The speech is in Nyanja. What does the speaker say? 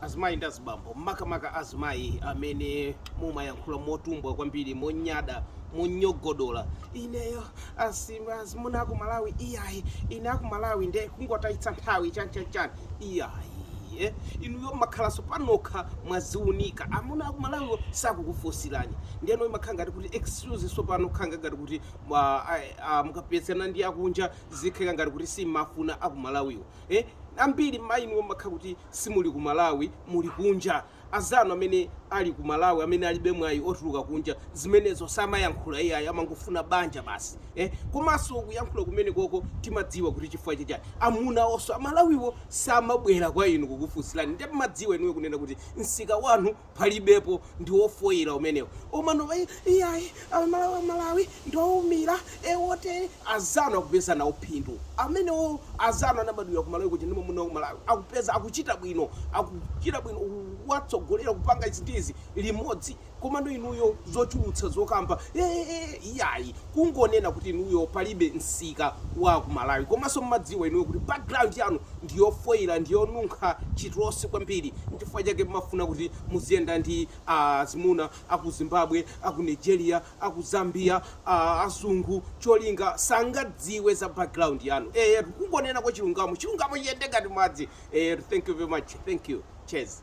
Azimayi ndi azibambo, makamaka azimayi amene mumayankhula motumbwa kwambiri, monyada, monyogodola, ineyo azimuna aku Malawi iyayi, ine aku Malawi nde kungotayitsa nthawi chani chani chani iyayi eh, inuyo mmakhalanso panokha mwaziunika, amuna aku Malawiwo sakukufunsirani ndeno imakhala ngati kuti excuse tsopano kukhala ngati kuti mukapezana ndi akunja zikhala ngati kuti simmafuna aku Malawiwo. Eh ambiri mwa inuyo mumakhala kuti simuli ku Malawi muli kunja. Azanu amene ali ku Malawi amene alibe mwayi otuluka kunja zimenezo samayankhula iyayi amangofuna banja basi eh. Komanso kuyankhula kumenekoko timadziwa kuti chifukwa cha chani. Amunawonso a Malawiwo samabwera kwa inu kukufunsirani nde mmadziwa inuyo kunena kuti msika wanu palibepo ndi ofoila umenewo komano ai- iyayi amalawi amalawi ndiowumira otere azanu akupeza nawo phindu amenewo azanu anabadwira ku malawi kuno ndi mamuna wa ku malawi akupeza akuchita bwino akuchita bwino watsogolera kupanga izi ndi izi limodzi komano inuyo zochulutsa zokamba "Eh, eh, eh, iyayi kungonena kuti inuyo palibe msika wa ku Malawi komanso mmadziwa inuyo kuti background yanu ndiyofoila ndiyonunkha chitosi kwambiri nchifukwa chake mmafuna kuti muziyenda ndi azimuna aku Zimbabwe, aku Nigeria, aku Zambia, azungu cholinga sangadziwe za background yanu eetu kungonena kwa chilungamo chilungamo chiyende ngati madzi eetu thank you very much thank you cheers.